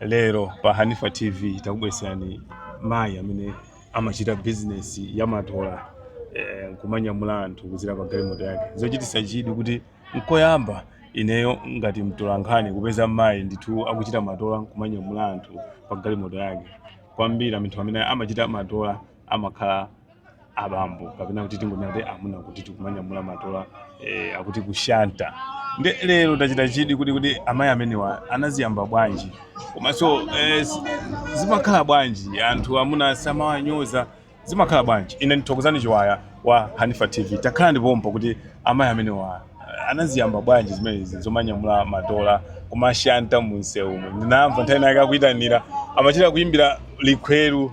Lero pa Hanifa TV takubweretserani mayi amene amachita bizinesi ya matola eh, nkumanyamula anthu kudzera pa galimoto yake zochititsa chidwi kuti nkoyamba ineyo ngati mtolankhani kupeza mmayi ndithu akuchita matola nkumanyamula anthu pa galimoto yake kwambiri anthu amene amachita matola amakhala abambo kapena kuti tingonena kuti amuna kuti tikumanyamula matola eh, akuti kushanta nde lero tachita chidwi kuti kuti amayi amenewa anaziyamba bwanji komanso eh, z- zimakhala bwanji anthu amuna samawanyoza zimakhala bwanji ine ndi Thokozani Chiwaya wa Hanifa TV takhalani pompo kuti amayi amenewa eh, anaziyamba bwanji zimenezi zomanyamula matola kumashanta munsewumo ndinamva nthawi inayake akuyitanira amachita kuyimbira likhweru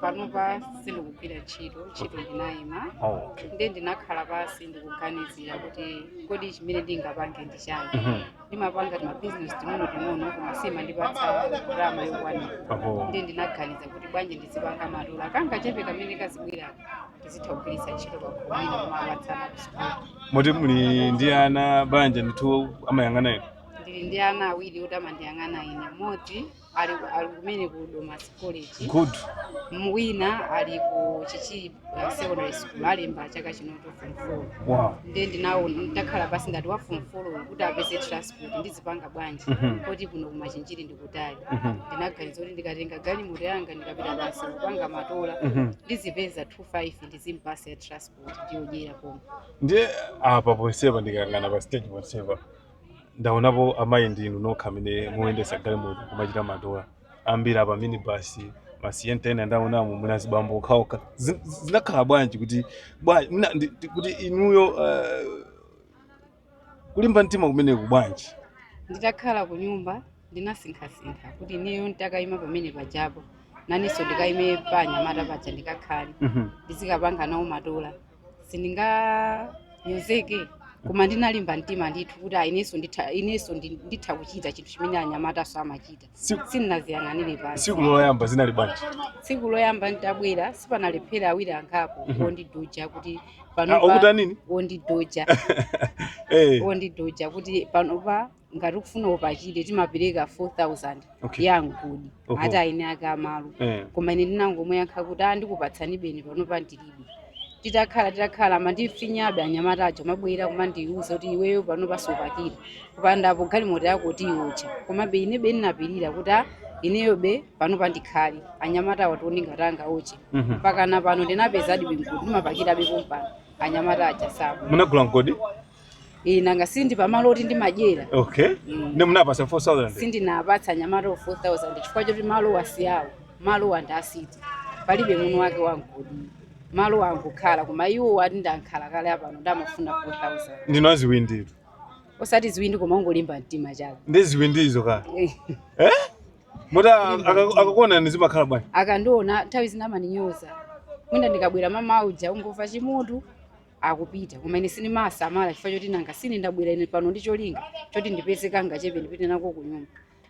panopa sindikugwira ntchito ntchito ndinayima Oh. nde ndinakhala pansi ndikuganizira kuti kodi chimene ndingapange ndi chani Mhm. ndimapanga timabizinesi ting'ono ting'ono koma simandipatsa ndalama yokwanira Oho. nde ndinaganiza kuti bwanji ndizipanga matola kangachepe kamene kazibwera ndizitha kugwiritsa ntchito pakhomo ina kumawapatsa ana kusukulu Moti muli ndi ana banja ndithu amayang'ana inu. ndili ndi ana awiri oti amandiyang'ana ine moti ali ali kumene ku Domasi College good M- wina ali ku Chichiri uh, secondary school alemba chaka chino cha form 4 wow nde ndinaona ndakhala pansi ndati wa form 4 kuti apeze transport ndizipanga bwanji Mhm. poti kuno ku Machinjiri ndikutali Mhm. ndinaganiza kuti ndikatenga galimoto yanga ndikapita basi kupanga matola Mhm. ndizipeza 25 ndizimpatsa ya transport ndiyodyera pomwe ndiye apa ponsepa ndikayang'ana pa stage ponsepa ndaonapo amayi ndi inu nokha amene mukuyendetsa galimoto kumachita matola ambiri apa minibus masiyenta ena ndaonamo muli azibambo okhaokha Zi- zinakhala bwanji kuti bwanji mwina ndi- ndi- kuti inuyo eh, kulimba mtima kumeneku bwanji? nditakhala ku nyumba ndinasinkhasinkha kuti ineyo nditakaima pamenepajapo nanenso ndikaime pa anyamata paja ndikakhale Mhm. ndizikapanga nawo matola sindinganyozeke koma ndinalimba mtima ndithu kuti ah, inenso nditha inenso ndi- nditha kuchita chinthu chimene anyamatanso amachita Tsiku- sindinadziyang'anire pansi tsiku loyamba zinali bwanji tsiku loyamba nditabwera sipanalephera awiri angapo ondidoja kuti Ah, okutani panopa nini ondidoja Eh, ondidoja kuti panopa ngati ukufuna upakire timapereka 4000 Okay. ya mgodi Oho. ati a eni ake amalo Eh. koma ine ndinangomuyankha kuti a ndikupatsani beni panopa ndilibe titakhala titakhala amandifinyabe anyamata aja amabwera kumandiuza kuti iweyo panopa supakira kupandapo galimoto yako tiyotcha komabe ine beni ndinapirira kuti a ineyo be panopa ndikhale anyamata awa tione ngati angaotche Mhm. mpaka na pano ndinapezadi be mgodi ndimapakirabe pompano anyamata aja saba munagula mgodi Eh, nanga sindi pamalo oti ndimadyera okay Mm. nde munapasa 4000 sindinapatsa anyamata wa 4000 chifukwa choti malo wasiyawo malo wa ndasiti palibe muno wake wangodi malo wangokhala koma iwo ati adakhala kale apano ndamafuna 4000 ndinu aziwinditu osati ziwindi koma ungolimba mtima chabe ndi ziwindizo kaya Eh, eh moti akakuonani zimakhala bwanji akandiona nthawi zina amandinyoza mwina ndikabwera mama uja ungomva chimutu akupita koma ine sindimasamala chifukwa choti nanga sine ndabwera ine pano ndi cholinga choti ndipeze kangachepe ndipite nako ku nyumba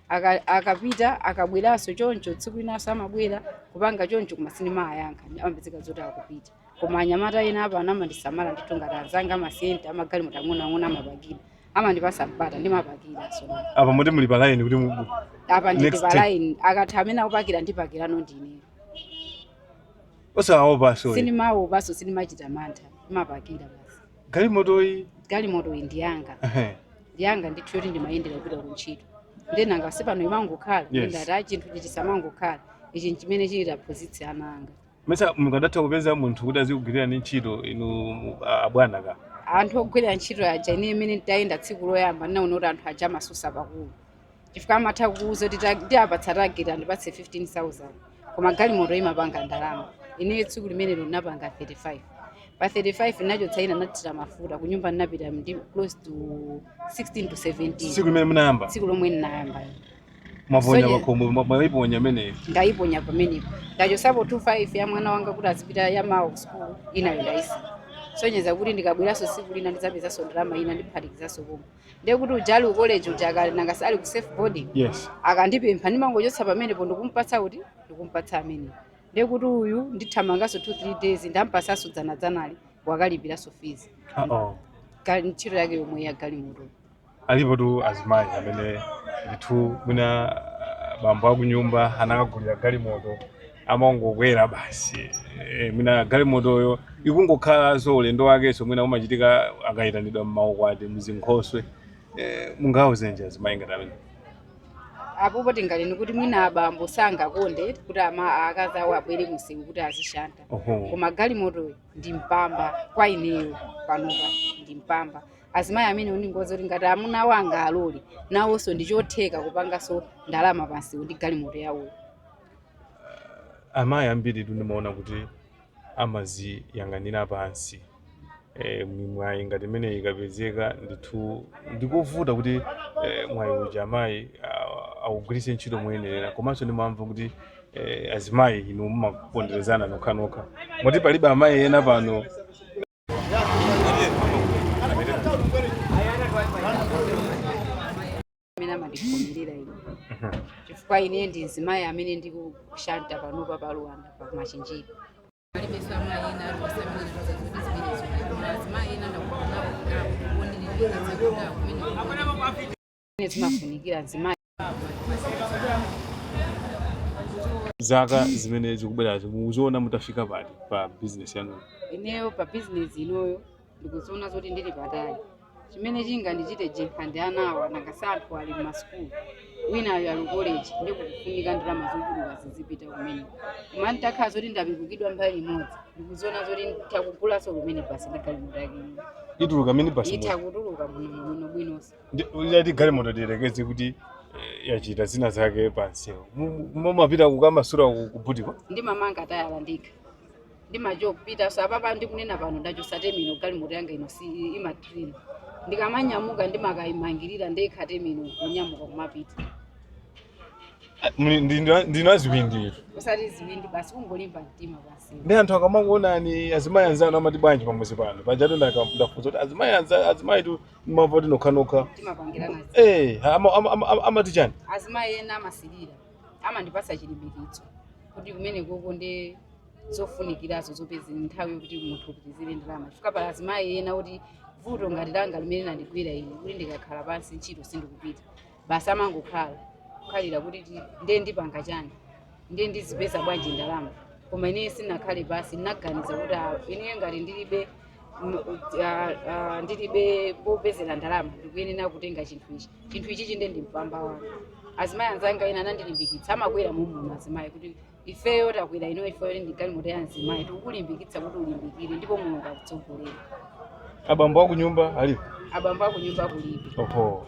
Aka- akapita akabweranso choncho tsiku linanso amabwera kupanga choncho koma sindimayankha amapezeka zoti akupita koma anyamata ena apa amandisamala ndithu ngati anzanga amasienta amagalimoto ang'onoang'ono amapakira amandipasa mpata ndimapakiranso apa moti muli pa line kuti mu- apa ndili Next pa time. line akatha amene akupakira ndipakirano ndine osawaopanso sindimaopanso sindimachita mantha ndimapakira basi galimotoyi galimoto iyi ndi yanga ehe, ndi yanga ndithu yoti ndimayendera kupita ku ntchito nde nanga si pano imangokhala Yes. ndati a chinthu ichi chisamangokhala ichi nchimene chitaphunzitse ana anga mesa mukadatha kupeza munthu kuti azikugwirirani ntchito inu mu- a- abwana ka anthu ogwirira ntchito aja ine imene nditayenda tsiku loyamba ndinaona kuti anthu aja amasusa pakulu chifukwa amatha kukuuza kuti ta- ndiapatsa target andipatse 15000 koma galimoto imapanga ndalama ineyo tsiku limenelo ndinapanga 35 pa 35 ndinachotsa ina ndinathira mafuta kunyumba ndinapita ndi close to 16 to 17 tsiku limene munayamba tsiku lomwe ndinayamba mwaponya pakhomo mwa- mwaiponya imeneyo ndayiponya pamenepo ndachosapo 25 ya mwana wanga kuti azipita ya mawa ku sukulu inayo ndayisiya sonyeza kuti ndikabweranso tsiku lina ndidzapezanso ndalama ina ndiphatikizanso pomwe ndiye kuti uja ali ku college ujaka nanga si ali ku self boarding yes akandipempha ndimangochotsa pamenepo nkumpatsa kuti ndikumpatsa amene ndiye kuti uyu ndithamanganso 2 3 days ndampatsanso dzanadzanali wakalipiranso fees Uh-oh. Ga- ntchito yake yomwe ya galimoto alipotu azimayi amene ndithu mwina ah, bambo akunyumba anawagulira galimoto amangokwera basi e, mwina galimotoyo ikungokhalanso ulendo wakenso mwina umachitika akayitanidwa mmaukwati mzinkhoswe e, mungawauzenji azimayi ngati amenewo apopo tinganene kuti mwina abambo sangakonde kuti ama akazi awo abwere kumsewu kuti azishanta Oho. koma galimotoyo ndi mpamba kwa ineyo panopa ndi mpamba azimayi amenewo ndingowauza kuti ngati amuna awo angalole nawonso ndi chotheka kupanganso ndalama pamsewu ndi galimoto yawoyo uh, amayi ambiri tu ndimaona kuti amaziyang'anira pansi e, mwayi ngati imeneyi ikapezeka ndithu ndikovuta kuti e, mwayi uja amayi awugwiritse ntchito moyenerera komanso ndimamva kuti e, azimayi inu mumaponderezana nokhanokha moti palibe amayi ena pano amene amandikhulupirira ine chifukwa ine ndi mzimayi amene ndikushanta panopa pa Luwanda pa machinjiri alibenso amayi ena aliwonse amene ndikudziwa kuti zimenezo azimayi ena ndakawonako kuyerekeza makuda kumene kumene zimafunikira mzimayi zaka zimene zikubwerazi mukuziona mutafika pati pa bizinesi yanu ineyo pa bizinesi inoyo ndikuziona zoti ndili patali chimene chingandichite njenkha ndi ana awa nanga si anthu ali m'masukulu winayo ali koleji ndiye kukufunika ndalama zochuluka zizipita kumeneko koma nditakhala zoti ndapikukidwa mbali imodzi ndikuziona zoti nditha kugulanso kumene basi ndi galimoto yake ino ituluka mini basi itha mujamu kutuluka bwino bwino bwinonso Ndiye kuti galimoto tiyerekeze kuti eh, yachita zina zake pansewu mumapita kukamasura kubutiko ndimamanga tayala ndekha ndimachopitaso apapa ndikunena pano ndachotsa temino galimoto yanga inoyi imatrina ndikamanyamuka ndimakayimangirira ndekha temino kunyamuka kumapita ndinu a ziwindi inu usati ziwindi basi kungolimba mtima basi ndiye anthu akamakuonani azimayi anzanu amati bwanji pamudzi pano pajatu ndafunsa kuti azimayi anza- azimayi tu mumati nokhanokha timapangirana zi- Eh, ama- ama- ama- amati chani azimayi ena amasilira amandipasa chilimbikitso kuti kumene koko ndi zofunikirazo zopeza nthawi yokuti munthu uzipezera ndalama chifukwa pali azimayi ena kuti vuto ngati langa limene landigwira ine kuti ndikakhala pansi ntchito sindikupita basi amangokhala kukhalira kuti ti- ndiye ndipanga chani ndiye ndizipeza bwanji ndalama koma ineyo sinakhale pansi ndinaganiza kuti ah, ineyo ngati ndilibe m- ah, ah, ndilibe popezera ndalama ndikuyenera kutenga chinthu ichi chinthu ichi chikhale mpamba wanga azimayi anzanga ena anandilimbikitsa amakwera muno azimayi kuti ifeyo takwera ino ifeyo ndi galimoto ya mzimayi tikukulimbikitsa kuti ulimbikire ndipo mulungu akutsogolera abambo aku nyumba alipo abambo aku nyumba kulibe oho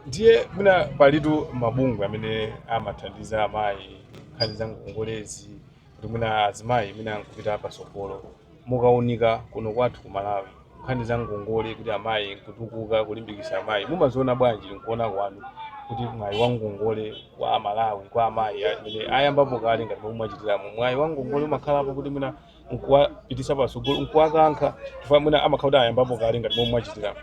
ndiye mwina palitu mabungwe amene amathandiza amayi nkhani za ngongolezi kuti mwina azimayi ena nkupita patsogolo mukaunika kuno kwathu ku Malawi nkhani za ngongole kuti amayi nkutukuka kulimbikitsa amayi mumaziona bwanji nkuona kwanu kuti mwayi wa ngongole kwa amalawi kwa amayi amene ayambapo kale ngati momwe mwachitiramu mwayi wa ngongole umakhalapo kuti mwina nkuwapititsa patsogolo nkuwakankha chifukwa mwina amakhala kuti ayambapo kale ngati momwe mwachitiramu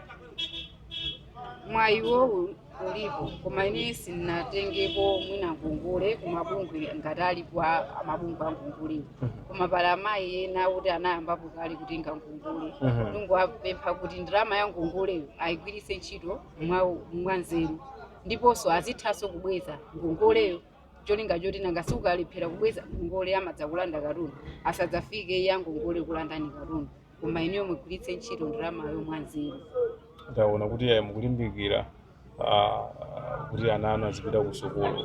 mwayiwowo ulipo koma ine sinatengepo mwina ngongole kumabungwe ngati alipo a- amabungwe a ngongole koma pali amayi ena kuti anayambapo kale kutenga ngongole Mhm. ndingowapempha kuti ndalama ya ngongoleyo ayigwiritse ntchito mwa- mwanzeru ndiponso azithanso kubweza ngongoleyo cholinga choti nanga siukalephera kubweza ngongole amadzakulanda katundu asadzafike ya ngongole kulandani katundu koma inuyo mugwiritse ntchito ndalamayo mwanzeru ndaona kuti ayi mukulimbikira ah, kuti ana anu azipita ku sukulu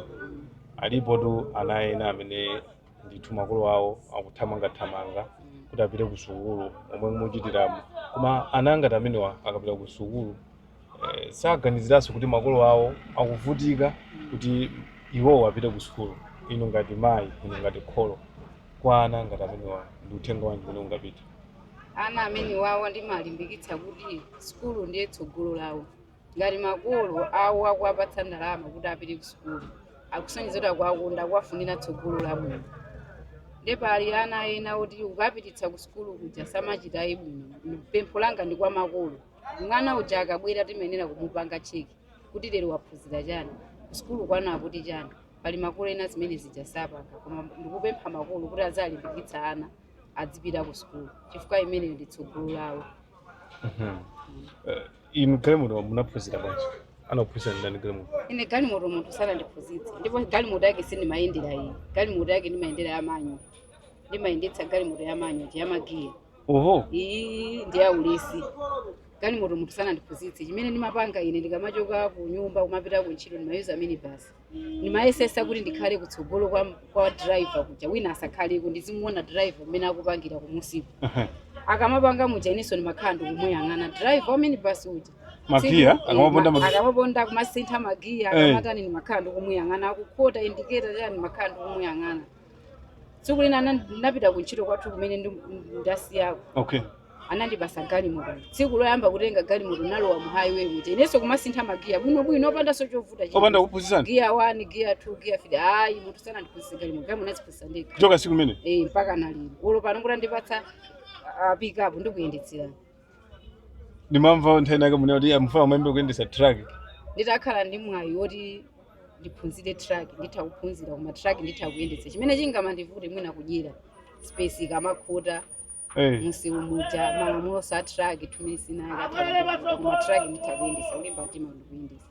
alipotu ana ena amene ndithu makolo awo akuthamangathamanga kuti apite ku sukulu momwe muchitiramu koma ana ngati amenewa akapita ku sukulu eh, saganiziranso kuti makolo awo akuvutika kuti iwowo apite ku sukulu inu ngati mayi inu ngati kholo Kwa ana ngati amenewa ndi uthenga wanji umene ungapite? Ana amenewawa ndimawalimbikitsa kuti sukulu ndiye tsogolo lawo. Ngati makolo awo akuwapatsa ndalama kuti apite ku sukulu, akusonyeza kuti akuwakonda, akuwafunira tsogolo labwino. Nde pali ana ena oti ukawapititsa ku sukulu kuja samachita ayi bwino. Pempho langa ndi kwa makolo. Mwana uja akabwera timayenera kumupanga cheki kuti lero waphunzira chani, ku sukulu kwanu akuti chani. pali makolo ena zimenezija sapanga koma ndikupempha makolo kuti aziwalimbikitsa ana adzipita ku sukulu chifukwa imeneyo ndi tsogolo lawo Mhm. Eh, inu galimoto munaphunzira bwanji anakuphunzitsani ndani galimoto ine galimoto munthu sanandiphunzitse ndipo galimoto yake sindimayendera iyi galimoto yake ndimayendera ya manual ndimayendetsa galimoto ya manual ndi ya magiya oho iyi ndi ya ulesi galimoto munthu sanandiphunzitse chimene ndimapanga ine ndikamachoka ku nyumba kumapita ku ntchito ndimayuza minibasi ndimayesesa kuti ndikhale kutsogolo kwa, kwa driver kuja wina asakhaleko ndizimuona driver mmene akupangira kumusiku Aha. akamapanga muja inenso ndimakhala ndikumuyang'ana driver wa minibasi uja Magiya, Tsiku- akamaponda eh, ma- magiya. akamaponda kumasintha magiya Eh. akamatani ndimakhala ndikumuyang'ana akukhota indiketa chani ndimakhala ndikumuyang'ana tsiku lina ana- ndinapita ku ntchito kwathu kumene ndi- ndasiyako okay anandipasa galimoto tsiku loyamba kutenga galimoto nalowa mu highway muja inenso kumasintha magiya bwinobwino opandanso chovuta china. opanda kuphunzitsana giya 1 giya 2 giya 3 ayi munthu sanandiphunzitse galimoto galimoto naziphunzitsa ndekha kuchoka siku limene eh mpaka nalero olo pano kutandipatsa ah, pick up ndikuyendetsera ndimamva nthawi inayake munena kuti mufuna muyambe kuyendesa truck nditakhala ndi mwayi woti ndiphunzire truck nditha kuphunzira koma truck nditha kuyendetsa chimene chingamandivute mwina kudyera space ikamakhota Eh, mumsewu muja malamuloso a truck amene sinayakatha koma truck nditha kuyendetsa kulimba mtima ndikuyendetsa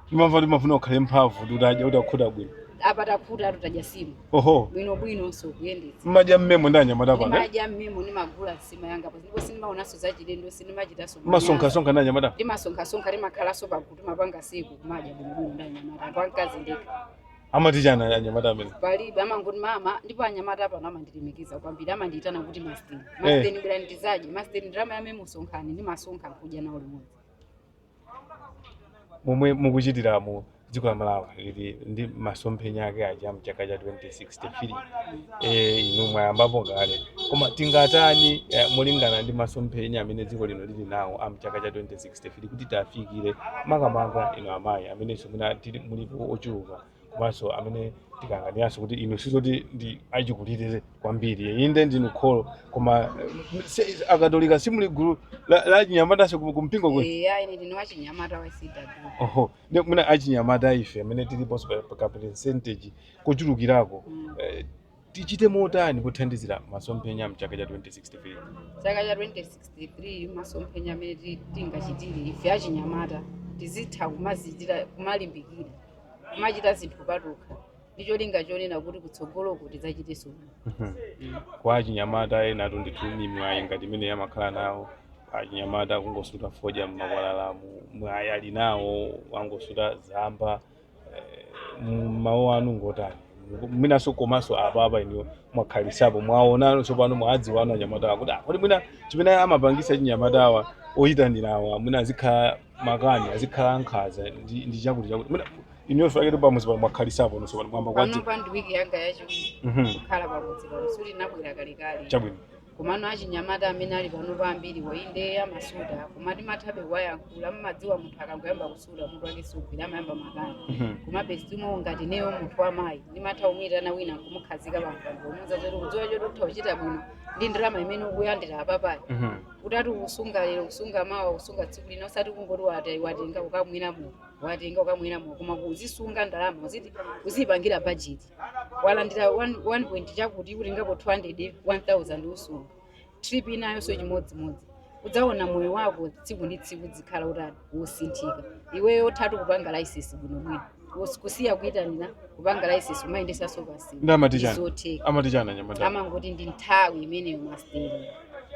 timamva kuti mafuna ukhale mphamvu kuti utadya kuti akhuta bwino apa takhuta tutaja nsima oho bwino bwino nso kuyendetsa mmadya mmemo ndi anyamata pano eh? ndimadya mmemo ndimagula nsima yanga apa ndipo sindimaonanso zachilendo sindimachitanso manyazi. masonkhasonkha ndi anyamata timasonkhasonkha timakhalanso pakuti timapanga siku kumadya bwinobwino ndi anyamata ndipo wamkazi ndekha amati chani anyamata amene palibe amangoti mama ndipo anyamata pano amandilemekeza kwambiri amandiitana kuti masteni masteni bwerani mudzadye masteni ndalama yame musonkhani ndimasonkha nkudya nawo limodzi momwe mukuchitiramu dziko la malawi lili ndi masomphenya ake aja mchaka cha 2063 eh, inu mwayambapo kale koma tingatani eh, molingana ndi masomphenya amene dziko lino lili nawo a mchaka cha 2063 kuti tifikire makamaka inu amayi amenenso mwina tili- mulipo ochuluka komanso amene tikayang'ananso kuti inu sizoti ndinu achikulire kwambiri inde ndinu kholo koma eh, si- akatolika simuli mgulu la- la achinyamatanso ku- kumpingo kwe eya ine ndine wachinyamata wa cw oho ndi mwina achinyamata ife amene tiliponso pa- pa ka percentage kochulukirako Mm. eh, Tichite motani pothandizira masomphenya mchaka cha 2063? Chaka cha 2063 masomphenya amene ti- tingachitire ife achinyamata tizitha kumadzichitira kumalimbikira kumachita zinthu patokha ndi cholinga chonena kuti kutsogoloko tidzachitenso bwino. kwa achinyamata ena alitu nditu ni mwayi ngati imene amakhala nawo achinyamata kungosuta fodya m'makwalalamu mwayi ali nawo wongosuta chamba mawu anu ngotani mwinanso komanso apa apa inuyo mwakhalitsapo mwaonano tsopano mwadziwana nawo anyamata awa kuti ah, kodi mwina chimene chimapangitsa achinyamata awa oyitanirawa mwina azikhala makani azikhala ankhaza ndi ndi chakuti chakuti mwina inuyo fakiti pamudzi pano mwakhalitsapo ndiye tsopano mwayamba kuwadzi panopa ndi wiki yanga yachiwiri Mhm. kukhala pamudzi pano sikuti ndabwera kalekale chabwino komano achinyamata amene ali panopa ambiriwo inde amasuta koma timathabe kuwayankhula mmadziwa munthu akangoyamba kusuta mutu wake sumagwira amayamba makani Mhm. komabe zilimo ngati ineyo munthu wamayi ndimatha kumuyitana wina nkumukhazika pampando kumuuza zoti kudziwa choti utha kuchita bwino ndi ndalama imene ukulandira apapayi Mhm. utati ukusunga lero kusunga mawa kusunga tsiku lina usati kungoti wate- watenga ukamwe namo watenga ukamwe namo koma uzisunga ndalama uzitani uziyipangira bajeti walandira 1 1 point chakuti ukutengapo 200 1000 usunge trip inayonso chimodzimodzi udzaona moyo wako tsiku ndi tsiku uzikhala utani wosinthika iweyo uthatu kupanga laisensi bwinobwino Kus- kusiya kuyitanira kupanga laisensi kumayendetsanso basi ndi amati chani amati chani anyamata amangoti ndi nthawi imeneyo masteni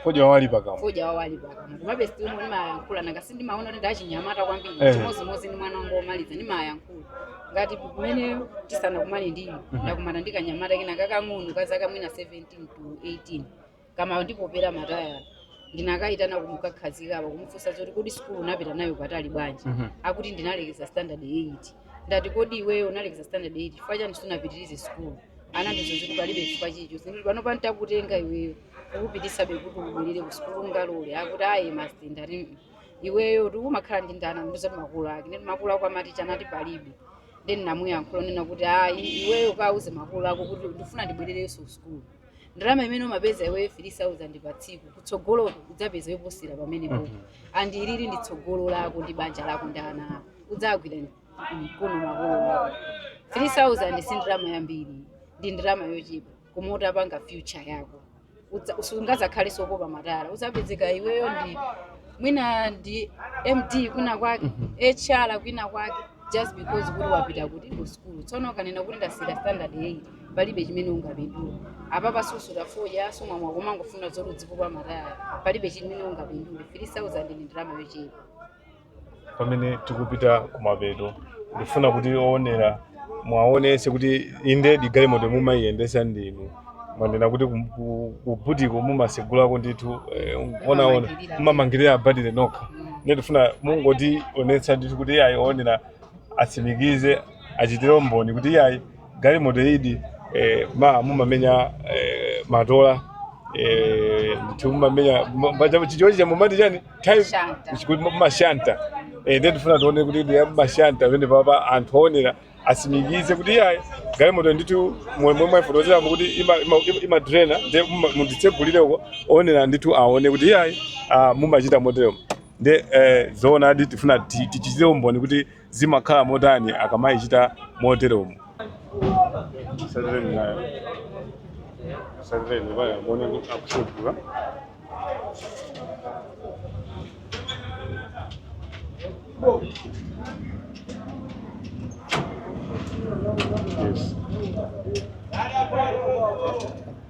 fodya wawali pakamwa fodya wawali pakamwa komabe still ndimayankhula nanga sindimaona kuti ndachinyamata kwambiri Eh. chimodzimodzi ndi mwana wanga womaliza ndimayankhula ngati kumene tisanakumane ndili Mhm. ndakumana ndi kanyamata kena kakang'ono ka zaka mwina 17 to 18 kamandipopera matayala ndinakayitana nkumukhazika apa kumufunsa zoti kodi sikulu unapita nayo patali bwanji Mhm. akuti ndinalekeza standard 8 ndati kodi iweyo unalekeza standard 8 chifukwa chani sunapitirize sikulu anandiuza zoti palibe chifukwa nditi ndiye panopa ntakutenga iweyo nkukupititsa be kuti ubwelere ku sukulu ungalole akuti ayi masti ndati "Mm, iweyo kuti umakhala ndi ndani anandiuza makulu ake nditi makulu ako amati chani akuti palibe then ndinamuyankhula kunena kuti ayi iweyo kauze makulu ako kuti ndifuna ndibwererenso ku sukulu ndalama imene umapeza iweyo 3000 pa tsiku kutsogolo udzapeza yoposera pamenepo and uli ndi tsogolo lako ndi banja lako ndi ana ako udzagwira mkono makulu ako 3000 si ndalama yambiri ndi ndalama yochepa koma utapanga future yako udza- usungazakhale ozipopa matayala uzapezeka iweyo ndiwe mwina ndi md kwina kwake hr kwina kwake just because kuti wapita kuti ku school tsono ukanena kuti ndasiira standard 8 palibe chimene ungapindula apa pa susuta fodya sumwa mowa koma ungofuna zoti udzipopa matayala palibe chimene ungapindule 3000 ndi ndalama yochepa pamene tikupita kumapeto ndifuna kuti owonera mwaonese kuti indedi galimoto mumayiyendesa ndinu mwanena kuti kum- ku- kubutiko mumatsegulako ndithu eh, zoona mumamangirira batire nokha ndiye tifuna mungotionetsa ndithu kuti iyayi owonera atsimikize achitire umboni kuti iyayi galimoto idi eh, ma mumamenya eh, matola eh, ndithu mumamenya chichi cha mumati chani timashanta yes kuti mumashanta eh, ndiye tifuna tione kuti ndi mumashanta pamenepapa anthu oonera asimikize kuti iyayi galimoto ndithu momwe mwayifotokozeramo kuti imadrena ima, ima imadrena, ndiye muma- munditsegulireko oonera ndithu aone kuti iyayi ah, mumachita motero nde eh, zoonadi tifuna ti- tichitire umboni kuti zimakhala motani akamaichita moteromo? Yes.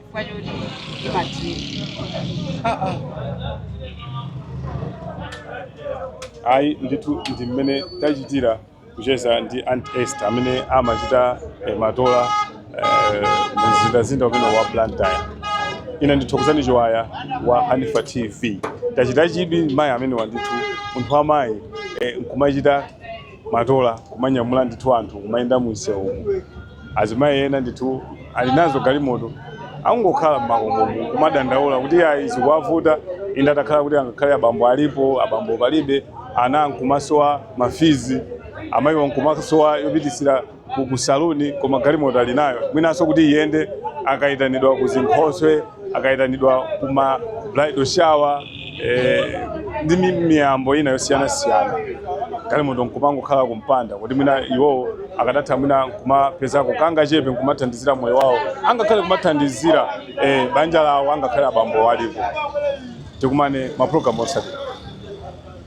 chifukwa choti imadrena ayi ndithu ndi mmene tachitira kucheza ndi aunt esther amene amachita eh, matola eh, mumzinda umenewu wa blantyre ine ndi thokozani chiwaya wa hanifa tv tachita chidwi mayi amenewa ndithu munthu wamayi eh, nkumachita matola kumanyamula ndithu anthu kumayenda mumsewumu azimayi ena ndithu ali nazo galimoto akungokhala mmakomomo kumadandaula kuti ayi zikuwavuta inde atakhala kuti angakhale abambo alipo abambo palibe ana nkumasowa mafizi amayiwa nkumasowa yopitisira ku saluni koma galimoto ali nayo mwinanso kuti iyende akayitanidwa ku zinkhoswe akayitanidwa ku ma bridal shower eh, ndi mi- miyambo ina yosiyanasiyana galimoto nkumangokhala kumpanda kuti mwina iwowo akadatha mwina nkumapezako kangachepe nkumathandizira moyo wawo angakhale kumathandizira eh, banja lawo angakhale abambo alipo tikumane mapulogalamu otsatira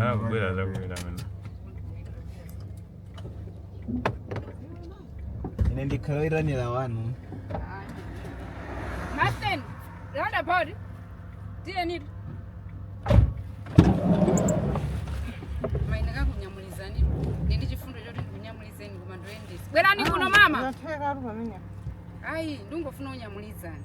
Ah, kubwera kwenda mena. ine ndikhala oyitanira wanu Martin, round about. Tiyeni. Mayi ndikakunyamulizeni. Ndili ndi chifundo choti ndikunyamulizeni koma ndoyendetsa. Bwerani kuno mama. Ayi, ndingofuna unyamulizani.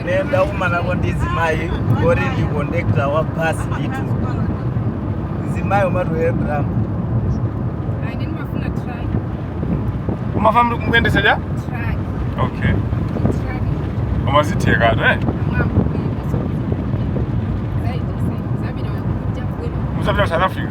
ine ndakumanako ndi mzimayi woti ndi kondakitala wa basi ndithu mzimayi umathu abraham umafuna kuyendetsa ja okay zimatheka ato eh mudzapita ku south africa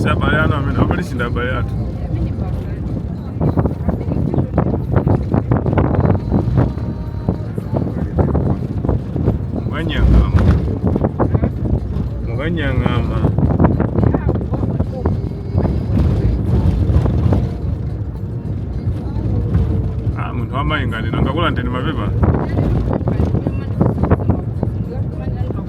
si abale anu amene amene si ndi abale athu mukanyang'ama ah munthu wamayi ngati nangakulandeni mapepa